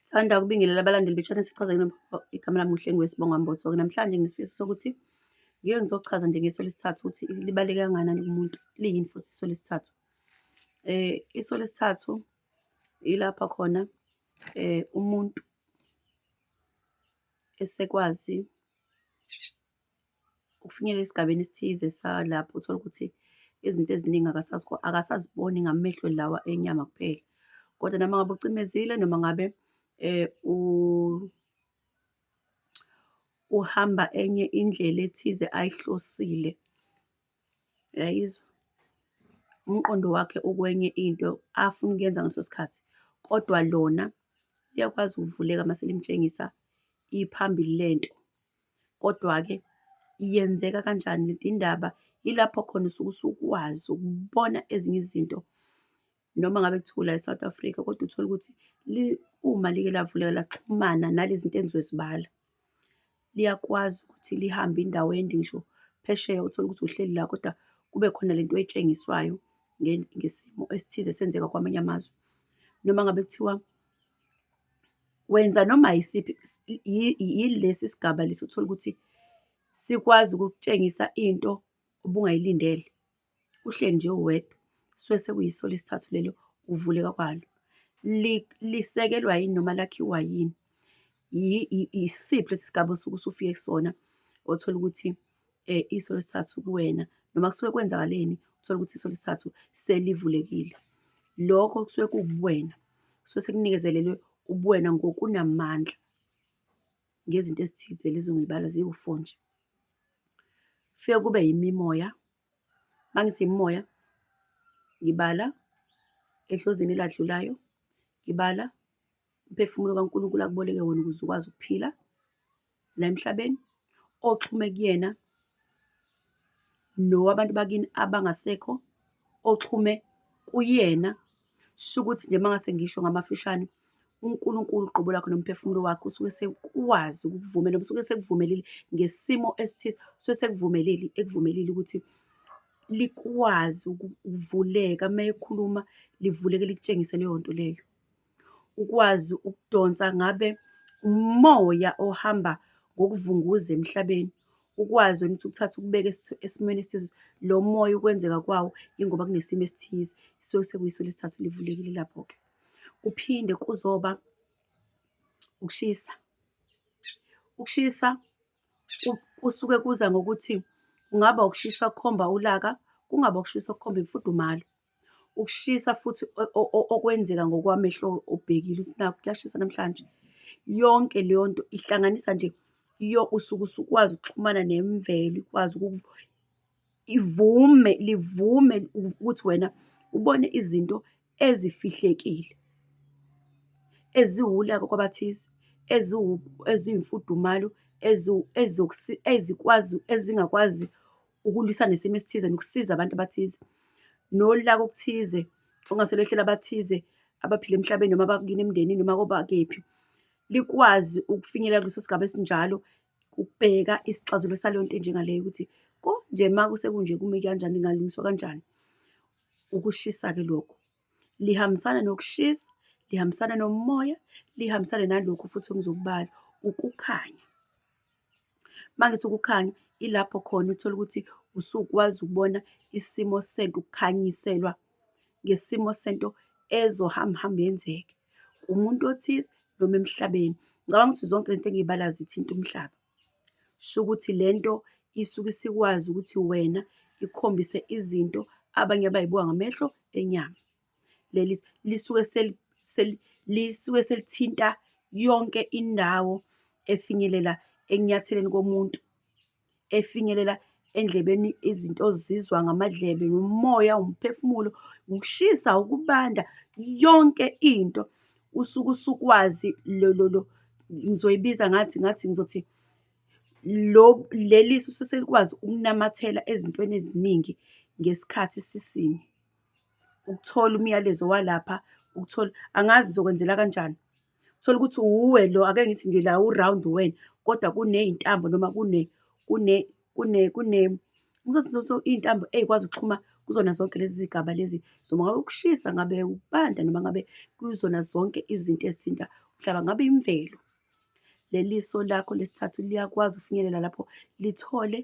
Sithanda ukubingelela abalandeli betshana sichaza yini igama lami uHlengi Wesibonga Mbotsoke. Namhlanje ngisifiso sokuthi ngike ngizochaza nje ngeso lesithathu ukuthi libaleke kangakanani kumuntu, liyini futhi iso lesithathu. Eh iso lesithathu ilapha khona eh umuntu esekwazi Ukufinyelela esigabeni esithize salapho uthole ukuthi izinto eziningi akasaziboni ngamehlo lawa enyama kuphela. Kodwa noma ngabe ucimezile noma ngabe uhamba enye indlela ethize ayihlosile, uyayizwa? Umqondo wakhe ukwenye into afuna ukuyenza ngaleso sikhathi, kodwa lona liyakwazi ukuvuleka mase limtshengisa iphambili lento. Kodwa-ke yenzeka kanjani lento indaba? Yilapho khona usuke usukwazi ukubona ezinye izinto noma ngabe kuthiwa ula e-South Africa kodwa uthole ukuthi uma like lavuleka laxhumana nalezi zinto engizozibala, liyakwazi ukuthi lihambe indawo ende ngisho phesheya uthole ukuthi uhleli la kodwa kube khona lento oyitshengiswayo ngesimo esithize esenzeka kwamanye amazwe. Noma ngabe kuthiwa Wenza noma yisiphi yilesi sigaba lesi uthole ukuthi sikwazi ukukutshengisa into obungayilindele, uhleli nje uwedwa, kusuke sekuyiso lesithathu lelo ukuvuleka kwalo. Lisekelwa yini noma lakhiwa yini? Yisiphi lesi sigaba osuke usufike kusona othola ukuthi. eh, iso lesithathu kuwena noma kusuke kwenzakaleni uthole ukuthi iso lesithathu selivulekile lokho kusuke kuwubuwena kusuke sekunikezelelwe ubuwena ngokunamandla ngezinto ezithize lezo ngibala ziwu-four nje fike kube yimimoya uma ngithi imimoya ngibala ehlozini eladlulayo ngibala umphefumulo kaNkulunkulu akuboleke wona ukuze ukwazi ukuphila la emhlabeni oxhume kuyena nowabantu bakini abangasekho oxhume kuyena shukuthi nje mangase ngisho ngamafishane uNkulunkulu uqobo lwakho nomphefumulo wakho usuke sekwazi ukukuvumela usuke sekuvumelile ngesimo esithize usuke sekuvumelile ekuvumelile ukuthi likwazi ukuvuleka uma ekhuluma livuleke likutshengise leyo nto leyo. ukwazi ukudonsa ngabe umoya ohamba ngokuvunguza emhlabeni, ukwazi wena ukuthi ukuthathe ukubeke esimweni esithize. Lo moya ukwenzeka kwawo ingoba kunesimo esithize esuke sekuyiso lesithathu livulekile lapho-ke. Kuphinde kuzoba ukushisa, ukushisa kusuke kuza ngokuthi kungaba ukushisa okukhomba ulaka, kungaba ukushisa okukhomba imfudumalo. Ukushisa futhi okwenzeka ngokwamehlo obhekile ukuthi nakho kuyashisa namhlanje. Yonke leyo nto ihlanganisa nje usuke usukwazi ukuxhumana nemvelo, ikwazi ivume, livume ukuthi wena ubone izinto ezifihlekile, eziwulaka kwabathize, eziwumfudumalo, ezikwazi, ezingakwazi. ukulwisana nesimo esithize nokusiza abantu abathize nolaka okuthize okungase lwehlele abathize abaphila emhlabeni noma abakini emndenini noma kobakephi likwazi ukufinyelela kuleso sigaba esinjalo ukubheka isixazelo saleyo nto enjengaleyo ukuthi konje uma kusekunje kume kanjani ingalungiswa kanjani ukushisa-ke lokho Lihambisana nokushisa, lihambisana nomoya, lihambisane nalokhu futhi engizokubala, ukukhanya. Uma ngithi ukukhanya, ilapho khona uthole ukuthi usukwazi ukubona isimo sento, ukukhanyiselwa ngesimo sento ezohamba hamba yenzeke kumuntu othize noma emhlabeni. Ngicabanga ukuthi zonke lento engiyibalayo zithinta umhlaba. Shukuthi lento isuke isikwazi ukuthi wena ikhombise izinto abanye abayibuka ngamehlo enyama. Leli lisuke lisuke selithinta yonke indawo efinyelela ekunyatheleni komuntu, efinyelela endlebeni izinto ozizwa ngamadlebe, umoya, umphefumulo, ukushisa, ukubanda, yonke into. usuke usukwazi lo lo lo ngizoyibiza ngathi ngathi ngizothi lo leli susu selikwazi ukunamathela ezintweni eziningi ngesikhathi sisinye ukuthola umyalezo walapha ukuthola angazi uzokwenzela kanjani thola ukuthi uwe lo ake ngithi nje la uround wena kodwa kuney'ntambo noma kune kune kune kune ngizosizotho iy'ntambo ey'kwazi ukuxhuma kuzona zonke lezi zigaba lezi zoma ngabe ukushisa ngabe ukubanda noma ngabe kuzona zonke izinto ezithinta umhlaba ngabe imvelo leli so lakho lesithathu liyakwazi ufinyelela lapho lithole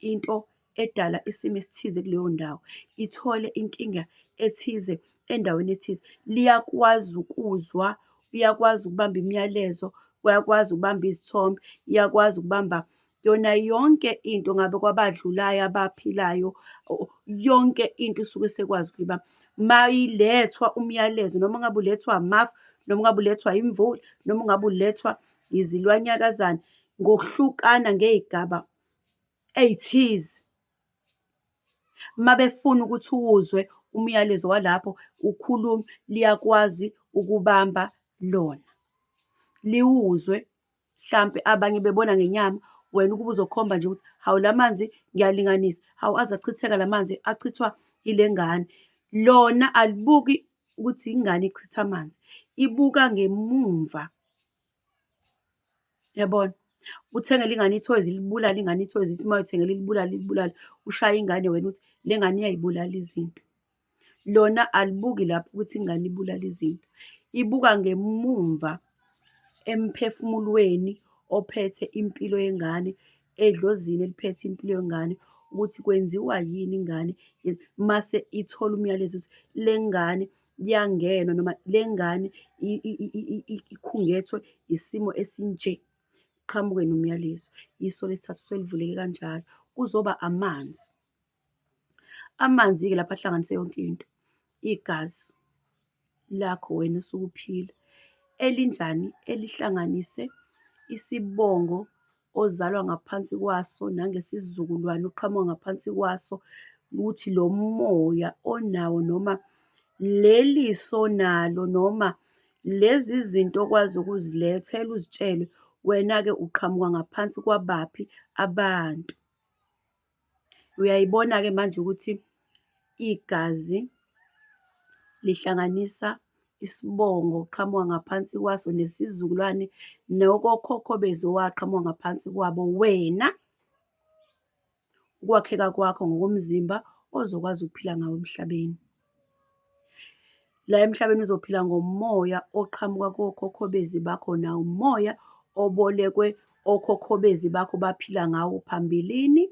into edala isimo esithize kuleyo ndawo ithole inkinga ethize endaweni ethize liyakwazi ukuzwa uyakwazi ukubamba imiyalezo uyakwazi ukubamba izithombe iyakwazi ukubamba yona yonke into ngabe kwabadlulayo abaphilayo yonke into isuke sekwazi ukuba mayilethwa umyalezo noma ngabe ulethwa amafu noma ngabe ulethwa imvula noma ngabe ulethwa izilwanyakazana ngokuhlukana ngezigaba ezithize mabefuna ukuthi uwuzwe umyalezo walapho ukhuluma liyakwazi ukubamba lona liwuzwe hlampe abanye bebona ngenyama wena ukuba uzokhomba nje ukuthi hawu la manzi ngiyalinganisa hawu aze achitheka la manzi achithwa ile ngane lona alibuki ukuthi ingane ichitha amanzi ibuka ngemumva yabona uthengela ingane ithoyizi ilibulala ingane ithoyizi ithi uma uthengela ilibulala ilibulala ushaya ingane wena uthi le ngane iyayibulala izinto lona alibuki lapho ukuthi ingane ibulala izinto, ibuka ngemumva emphefumulweni ophethe impilo yengane, edlozini eliphethe impilo yengane ukuthi kwenziwa yini ingane mase ithola umyalezo ukuthi le ngane kuyangenwa noma le ngane ikhungethwe isimo esinje, kuqhamuke nomyalezo. Iso lesithathu selivuleke kanjalo, kuzoba amanzi. Amanzi-ke lapha ahlanganise yonke into, igazi lakho wena osukuphila elinjani elihlanganise isibongo ozalwa ngaphansi kwaso nangesizukulwane oqhamuka ngaphansi kwaso, ukuthi lo moya onawo noma leli so onalo noma lezi zinto okwazi ukuzilethela uzitshele wena-ke uqhamuka ngaphansi kwabaphi abantu. Uyayibona-ke manje ukuthi igazi lihlanganisa isibongo okuqhamuka ngaphansi kwaso nesizukulwane nokokhokho bezo owaqhamuka ngaphansi kwabo. Wena ukwakheka kwakho ngokomzimba ozokwazi ukuphila ngawo emhlabeni. La emhlabeni uzophila ngomoya oqhamuka kokhokhobezi bakho nawo umoya obolekwe okhokhobezi bakho baphila ngawo phambilini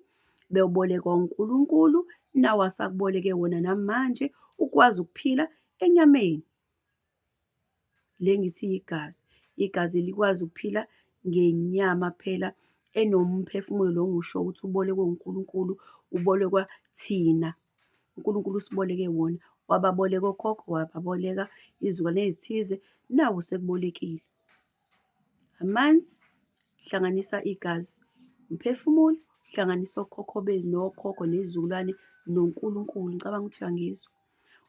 bewubolekwa uNkulunkulu nawo asakuboleke wona namanje ukwazi ukuphila enyameni Le ngithi yigazi. Igazi elikwazi ukuphila ngenyama phela enomphefumulo lo ngiwusho ukuthi ubolekwe uNkulunkulu, ubolekwa thina. UNkulunkulu usiboleke wona, wababoleka okhokho, wababoleka izizukulwane ezithize, nawe usekubolekile. Amanzi, hlanganisa igazi. Umphefumulo, hlanganisa okhokho benu nokhokho nezizukulwane noNkulunkulu. Ngicabanga ukuthi uyangizwa.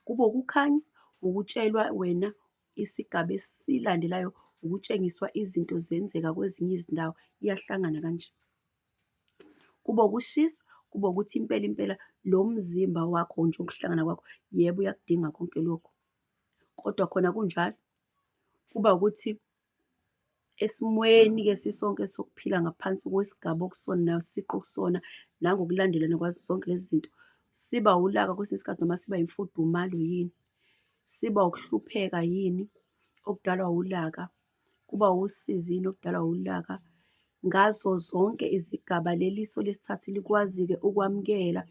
Kube ukukhanya, ukutshelwa wena isigaba esilandelayo ukutshengiswa izinto zenzeka kwezinye izindawo iyahlangana kanje. Kube ukushisa, kube ukuthi impela impela lo mzimba wakho nje ukuhlangana kwakho yebo uyakudinga konke lokhu. Kodwa khona kunjalo kuba ukuthi Esimweni-ke sisonke sokuphila ngaphansi kwesigaba okusona nayo siqu okusona nangokulandelana kwazo zonke lezi zinto, siba ulaka kwesinye isikhathi noma siba imfudumalo yini? Siba ukuhlupheka yini okudalwa ulaka? Kuba usizi yini okudalwa ulaka? Ngazo zonke izigaba leli so lesithathu likwazi-ke ukwamukela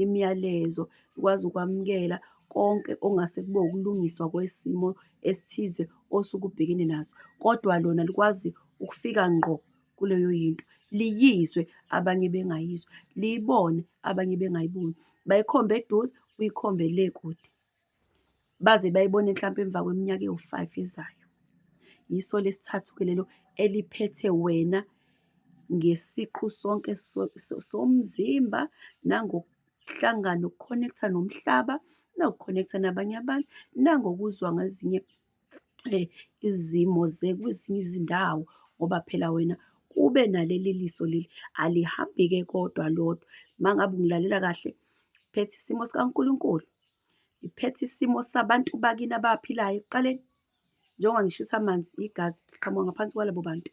imiyalezo, likwazi ukwamukela konke okungase kube ukulungiswa kwesimo esithize osuke ubhekene naso, kodwa lona likwazi ukufika ngqo kuleyo yinto, liyizwe abanye bengayizwa, liyibone abanye bengayiboni, bayikhombe eduze, uyikhombe le kude. baze bayibone mhlawumpe emva kweminyaka ewu-five ezayo. Yiso lesithathu-ke lelo eliphethe wena ngesiqu sonke somzimba nangokuhlangana, uku-connect-a nomhlaba, nawuku-connect-a nabanye abantu, nangokuzwa ngezinye izimo zekwezinye izindawo ngoba phela wena kube naleli liso leli alihambi-ke kodwa lodwa. Uma ngabe ungilalela kahle, ngiphethe isimo sikaNkulunkulu, ngiphethe isimo sabantu bakini abaphilayo ekuqaleni, njengoba ngishisa amanzi, igazi liqhamuka ngaphansi kwalabo bantu.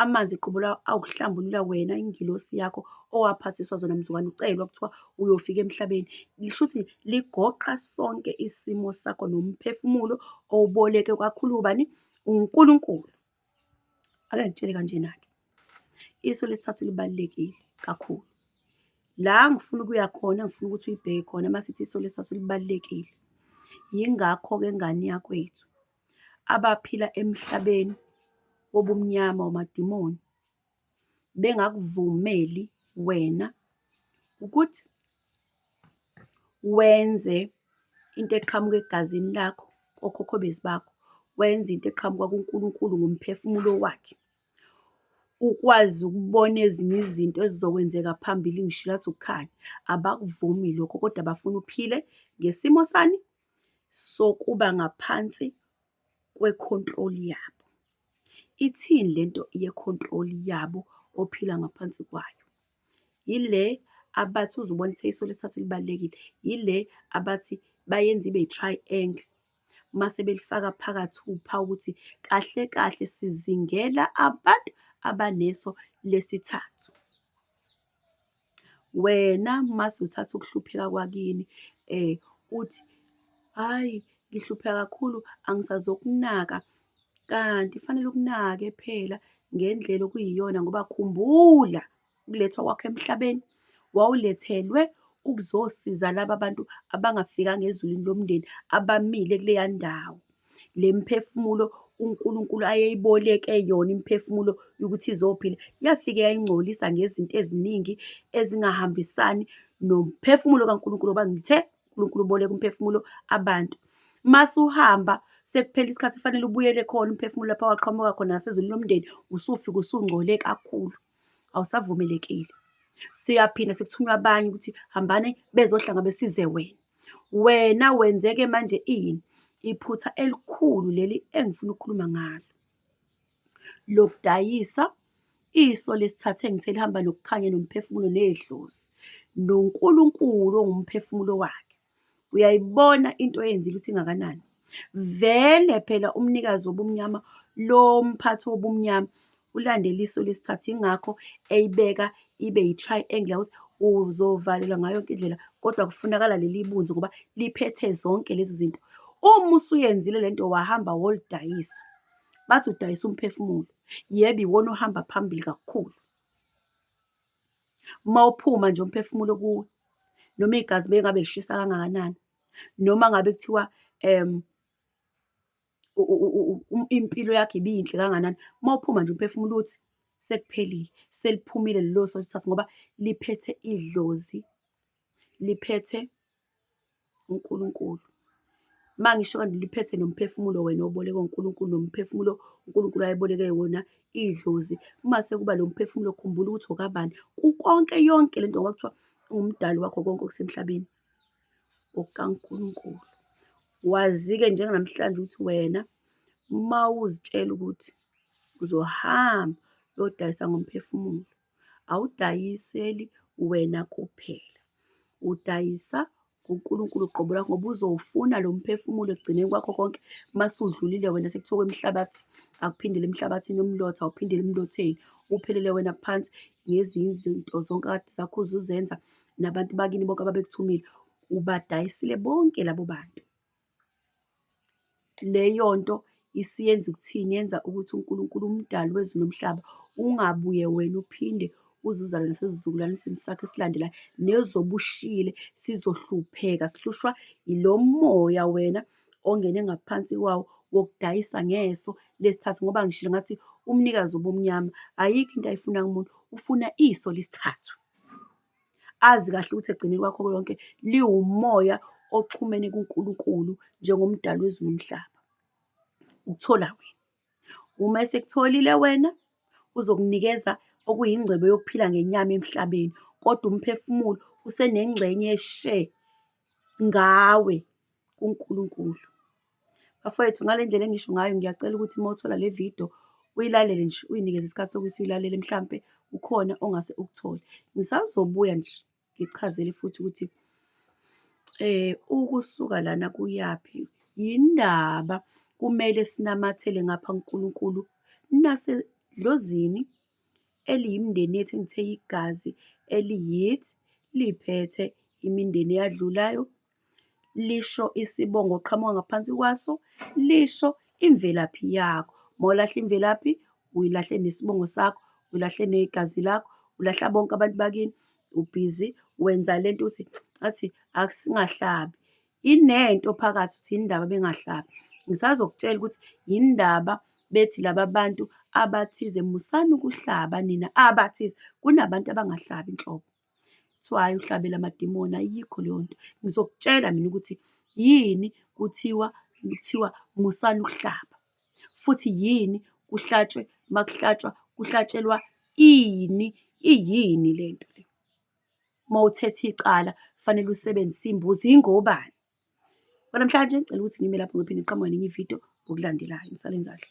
amanzi qobo lawo awuhlambulula wena ingilosi yakho owaphathiswa zona mzukwane ucelwa kuthiwa uyofika emhlabeni lisho ukuthi ligoqa sonke isimo sakho nomphefumulo owuboleke kwakhulu ubani uNkulunkulu ake ngitshele kanjena-ke iso lesithathu libalulekile kakhulu la ngifuna ukuya khona ngifuna ukuthi uyibheke khona masithi iso lesithathu libalulekile yingakho-ke ngane yakwethu abaphila emhlabeni wobumnyama wamadimoni bengakuvumeli wena ukuthi wenze into eqhamuka egazini lakho kokhokho bezi bakho wenze into eqhamuka kuNkulunkulu ngomphefumulo wakhe ukwazi ukubona ezinye izinto ezizokwenzeka phambili ngisho lathi ukukhanya abakuvumi lokho kodwa bafuna uphile ngesimo sani sokuba ngaphansi kwe-control yabo. Ithini lento ye-control yabo ophila ngaphansi kwayo? Yile abathi uze ubone ukuthi iso lesithathu libalulekile, yile abathi bayenza ibe i-triangle mase belifaka phakathi uphawu ukuthi kahle kahle sizingela abantu abaneso lesithathu. Wena mase uthatha ukuhlupheka kwakini uthi, hhayi ngihlupheka kakhulu angisazokunaka, kanti kufanele ukunake phela ngendlela okuyiyona ngoba khumbula ukulethwa kwakho emhlabeni wawulethelwe ukuzosiza laba bantu abangafikanga ezulwini lomndeni abamile kuleya ndawo. Le miphefumulo uNkulunkulu ayeyiboleke yona imiphefumulo yokuthi izophila, yafike yayingcolisa ngezinto eziningi ezingahambisani nomphefumulo kaNkulunkulu, ngoba ngithe uNkulunkulu uboleka umphefumulo abantu. Masuhamba sekuphela isikhathi kufanele ubuyele khona umphefumulo lapha waqhamuka khona ngasezulwini lomndeni, usufika usungcole kakhulu. awusavumelekile. Siyaphinde sekuthunywa abanye ukuthi hambane bezohlanga besize wena. Wena wenzeke manje ini? Iphutha elikhulu leli engifuna ukukhuluma ngalo. Lokudayisa iso lesithathe ngithe lihamba nokukhanya nomphefumulo nedlozi noNkulunkulu ongumphefumulo wakhe. Uyayibona into eyenzile ukuthi ingakanani? Vele phela umnikazi wobumnyama lo mphathi wobumnyama ulandela iso lesithathu, yingakho eyibeka ibe yi-triangle ukuthi uzovalelwa ngayo yonke indlela kodwa kufunakala leli bunzi ngoba liphethe zonke lezi zinto. Uma usuyenzile le nto wahamba wolidayisa, bathi udayisa umphefumulo. Yebo, iwona ohamba phambili kakhulu. Uma uphuma nje umphefumulo kuwe noma igazi bengabe lishisa kangakanani noma ngabe kuthiwa um impilo yakho ibiyinhle kanganani, uma uphuma nje umphefumulo uthi sekuphelile, seliphumile lelo soka ngoba liphethe idlozi, liphethe. uNkulunkulu. Uma ngisho kanti liphethe nomphefumulo wena obolekwe uNkulunkulu nomphefumulo uNkulunkulu ayeboleke wona idlozi. Uma sekuba lo mphefumulo khumbula ukuthi okabani. Kukonke yonke le nto ngoba kuthiwa ungumdali wakho konke okusemhlabeni okaNkulunkulu. Wazi-ke njenganamhlanje ukuthi wena uma uzitshela ukuthi uzohamba uyodayisa ngomphefumulo. Awudayiseli wena kuphela, udayisa kuNkulunkulu qobo lwakho ngoba uzowufuna lo mphefumulo ekugcineni kwakho konke. Uma sudlulile wena sekuthiwa kwemhlabathi, akuphindele emhlabathini umlotha, awuphindele emlotheni, uphelele wena phansi ngezinye izinto zonke akade zakho uze uzenza nabantu bakini bonke ababekuthumile, ubadayisile bonke labo bantu. Leyonto isiyenza ukuthini? Yenza ukuthi uNkulunkulu umdali wezulu nomhlaba ungabuye wena uphinde uzuzane nasesizukulwanisini sakho esilandelayo nezobe ushiyile sizohlupheka sihlushwa ilo moya wena ongene ngaphansi kwawo wokudayisa ngeso lesithathu ngoba ngishilo ngathi umnikazi obumnyama ayikho into ayifuna kumuntu ufuna iso lesithathu. azi kahle ukuthi ekugcineni kwakho konke liwumoya oxhumene kuNkulunkulu njengomdali wezulu nomhlaba. Ukuthola wena. Uma esekutholile wena uzokunikeza okuyingcwebo yokuphila ngenyama emhlabeni, kodwa umphefumulo usenengxenye eshe ngawe kuNkulunkulu. Bafowethu ngale ndlela engisho ngayo ngiyacela ukuthi uma uthola le video uyilalele nje uyinikeze isikhathi sokuthi uyilalele mhlampe ukhona ongase ukuthole. Ngisazobuya nje ngichazele futhi ukuthi eh ukusuka lana kuyaphi yindaba kumele sinamathele ngapha kuNkulunkulu nasedlozini eliyimindeni yethu engithe igazi eliyithi liphethe imindeni eyadlulayo lisho isibongo oqhamuka ngaphansi kwaso, lisho imvelaphi yakho. Uma ulahla imvelaphi, uyilahla nesibongo sakho, ulahla negazi lakho, ulahla bonke abantu bakini, ubhizi wenza le nto ukuthi athi asingahlabi. Inento phakathi ukuthi yini ndaba bengahlabi. Ngisazokutshela ukuthi yini ndaba bethi laba bantu abathize musani ukuhlaba nina abathize, kunabantu abangahlabi nhlobo. kuthiwa hhayi uhlabela amadimoni, ayikho leyo nto. Ngizokutshela mina ukuthi yini kuthiwa, kuthiwa musani ukuhlaba, futhi yini kuhlatshwe, uma kuhlatshwa, kuhlatshelwa ini, iyini le nto le. Uma uthetha icala kufanele usebenzise imbuzi, ingobani? Kwanamhlanje ngicela ukuthi ngime lapho ngiphinde ngiqhamuke nenye ividiyo ngokulandelayo. Nisaleni kahle.